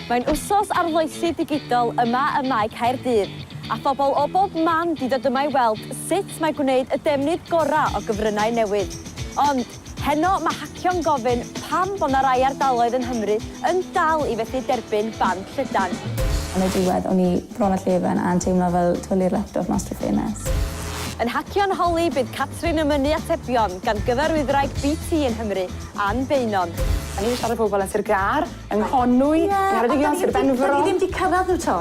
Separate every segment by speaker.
Speaker 1: Mae'n wsos arloesi digidol yma ym Mae Caerdydd, a phobl o bob man 'di dod yma i weld sut mae gwneud y defnydd gorau o gyfryngau newydd. Ond, Heno mae hacio'n gofyn pam bod 'na rai ardaloedd yn Nghymru yn dal i fethu derbyn band llydan. Yn y diwedd,
Speaker 2: o'n i bron â llefen a'n teimlo fel twli'r laptop mas drwy ffenest. Yn hacio'n
Speaker 1: holi, bydd Catrin yn mynnu atebion gan gyfarwyddwraig BT yng Nghymru, Ann Beynon. O'n i 'di siarad â pobl
Speaker 3: yn Sir Gâr, yng Nghonwy, yng Ngheredigion, Sir Benfro... Ie, ond 'dan ni ddim 'di cyrraedd nhw 'to.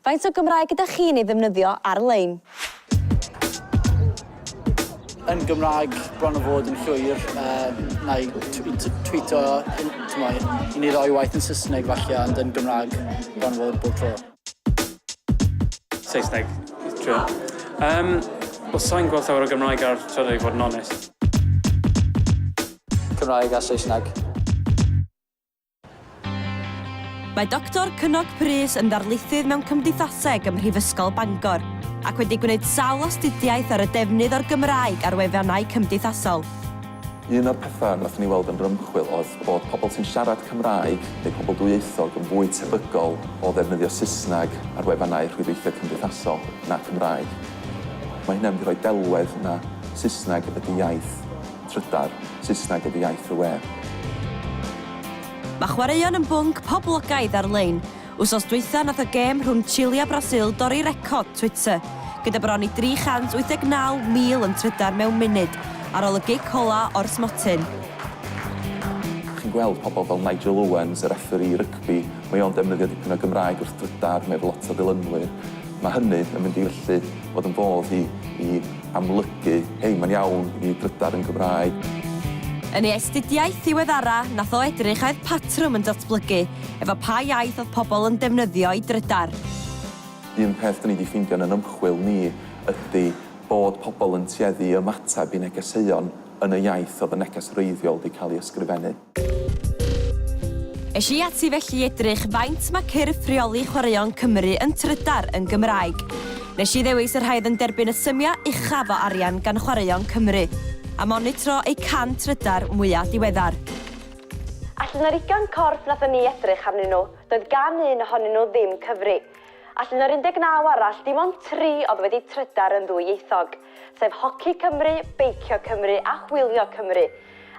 Speaker 1: Faint o Gymraeg ydych chi'n ei ddefnyddio ar-lein?
Speaker 4: Yn Gymraeg, bron a bod yn llwyr. Yy, na i twîto, t'mod, i ni roi waith yn Saesneg falle, ond yn Gymraeg, bron a bod bob tro.
Speaker 5: Saesneg, trio. Yym, wel, sai'n gweld llawer o Gymraeg ar Twitter i fod yn onest.
Speaker 4: Cymraeg a Saesneg.
Speaker 1: Mae Doctor Cynog Prys yn ddarlithydd mewn Cymdeithaseg ym Mhrifysgol Bangor ac wedi gwneud sawl astudiaeth ar y defnydd o'r Gymraeg ar wefannau cymdeithasol. Un o'r
Speaker 6: pethau wnaethon ni weld yn yr ymchwil oedd bod pobl sy'n siarad Cymraeg neu pobl dwyieithog yn fwy tebygol o ddefnyddio Saesneg ar wefannau rhwydweithio cymdeithasol na Cymraeg. Mae hynna'n mynd i roi delwedd na Saesneg ydy iaith Trydar, Saesneg ydy iaith y we.
Speaker 1: Mae chwaraeon yn bwnc poblogaidd ar-lein. Wsos dwytha nath y gêm rhwng Chile a Brasil dorri record Twitter, gyda bron i 389,000 yn trydar mewn munud ar ol y gic ola o'r smotyn.
Speaker 6: Chi'n gweld pobl fel Nigel Owens, y refferî rygbi, mae o'n defnyddio dipyn o Gymraeg wrth drydar, mae efo lot o ddilynwyr. Mae hynny yn mynd i felly fod yn fodd i i amlygu, hei, mae'n iawn i ni drydar yn Gymraeg. Yn ei
Speaker 1: astudiaeth ddiweddara, nath o edrych a oedd patrwm yn datblygu efo pa iaith oedd pobl yn defnyddio i drydar. Un
Speaker 6: peth dyn ni di ffeindio yn yn ymchwil ni ydy bod pobl yn tueddu i ymateb i negeseuon yn y iaith oedd y neges wreiddiol di cael ei ysgrifennu.
Speaker 1: Es i ati felly i edrych faint mae cyrff rheoli chwaraeon Cymru yn trydar yn Gymraeg. Nes i ddewis y rhai oedd yn derbyn y symiau uchaf o arian gan chwaraeon Cymru, a monitro eu can trydar mwyaf diweddar. Allan o'r ugain corff wnaethon ni edrych arnyn nhw, doedd gan un ohonyn nhw ddim cyfri. Allan o'r 19 arall, dim ond tri oedd wedi trydar yn ddwyieithog, sef Hoci Cymru, Beicio Cymru a Hwylio Cymru.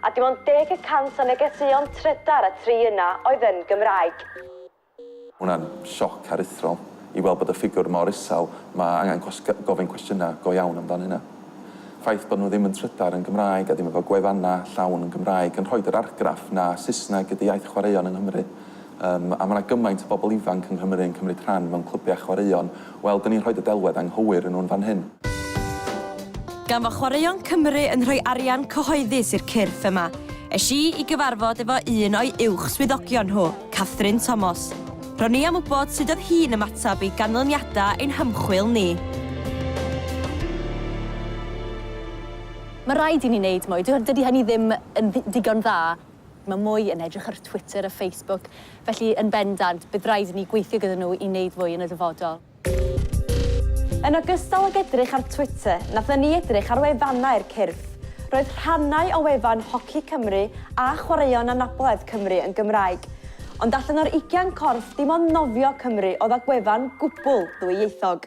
Speaker 1: a dim ond deg y cant o negeseuon trydar a tri yna oedd yn Gymraeg.
Speaker 6: Hwnna'n sioc aruthrol i weld bod y ffigwr mor isel, mae angen gofyn cwestiynau go iawn amdan hynna. Ffaith bod nhw ddim yn trydar yn Gymraeg a ddim efo gwefannau llawn yn Gymraeg yn rhoid yr argraff na Saesneg ydy iaith chwaraeon yng Nghymru, Yym, a mae 'na gymaint o bobl ifanc yng Nghymru yn cymryd rhan mewn clybiau chwaraeon. Wel, 'dyn ni'n rhoid y delwedd anghywir yn nhw'n fan hyn.
Speaker 1: Gan fo' Chwaraeon Cymru yn rhoi arian cyhoeddus i'r cyrff yma, es i i gyfarfod efo un o'i uwch swyddogion nhw, Catherine Tomos. Ro'n i am wybod sut oedd hi'n ymateb i ganlyniadau ein hymchwil ni. Mae rhaid i ni wneud mwy. Dydy hynny ddim yn ddigon dda. Mae mwy yn edrych ar Twitter a Facebook, felly yn bendant, bydd rhaid i ni gweithio gyda nhw i wneud fwy yn y dyfodol. Yn ogystal ag edrych ar Twitter, nathon ni edrych ar wefannau'r cyrff. Roedd rhannau o wefan Hoci Cymru a Chwaraeon Anabledd Cymru yn Gymraeg. Ond allan o'r ugian corff, dim ond nofio Cymru oedd â gwefan gwbl ddwyieithog.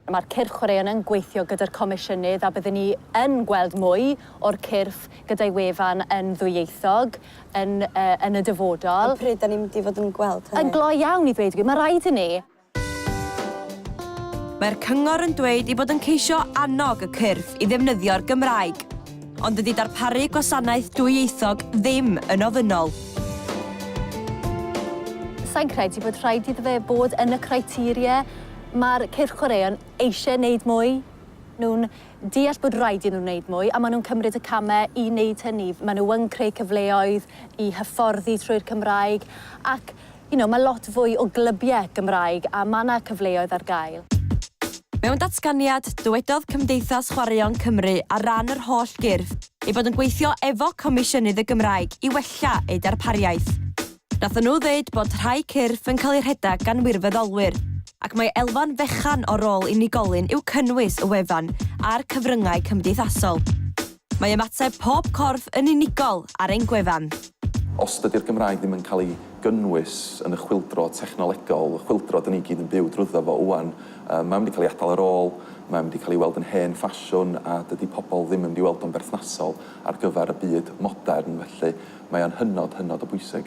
Speaker 1: Mae'r cyrff chwaraeon yn gweithio gyda'r Comisiynydd a byddwn ni yn gweld mwy o'r cyrff gyda'i wefan yn ddwyieithog yn yn y dyfodol. Ond pryd 'da ni'n mynd i fod yn gweld hynny? Yn glou iawn i ddweud y gwir, mae rhaid i ni. Mae'r Cyngor yn dweud ei bod yn ceisio annog y cyrff i ddefnyddio'r Gymraeg. Ond dydy darparu gwasanaeth dwyieithog ddim yn ofynnol. Sa i'n credu bod rhaid iddo fe fod yn y criteria. Mae'r cyrch chwaraeon eisiau gwneud mwy. Nhw'n deall bod rhaid iddyn nhw wneud mwy a maen nhw'n cymryd y camau i wneud hynny. Maen nhw yn creu cyfleoedd i hyfforddi trwy'r Cymraeg ac you know, mae lot fwy o glybiau Gymraeg a mae 'na cyfleoedd ar gael. Mewn
Speaker 7: datganiad, dywedodd Cymdeithas Chwaraeon Cymru ar ran yr holl gyrff ei bod yn gweithio efo Comisiynydd y Gymraeg i wella eu darpariaeth. Nathon nhw ddeud bod rhai cyrff yn cael eu rhedeg gan wirfoddolwyr ac mae elfen fechan o rôl unigolyn yw cynnwys y wefan a'r cyfryngau cymdeithasol. Mae ymateb pob corff yn unigol ar ein gwefan. Os dydy'r
Speaker 6: Gymraeg ddim yn cael ei gynnwys yn y chwyldro technolegol, y chwyldro dan ni gyd yn byw drwyddo fo ŵan, mae o'n mynd i cael ei adael ar ôl, mae o'n mynd i cael ei weld yn hen ffasiwn a dydy pobl ddim yn mynd i weld o'n berthnasol ar gyfer y byd modern, felly mae o'n hynod, hynod o bwysig.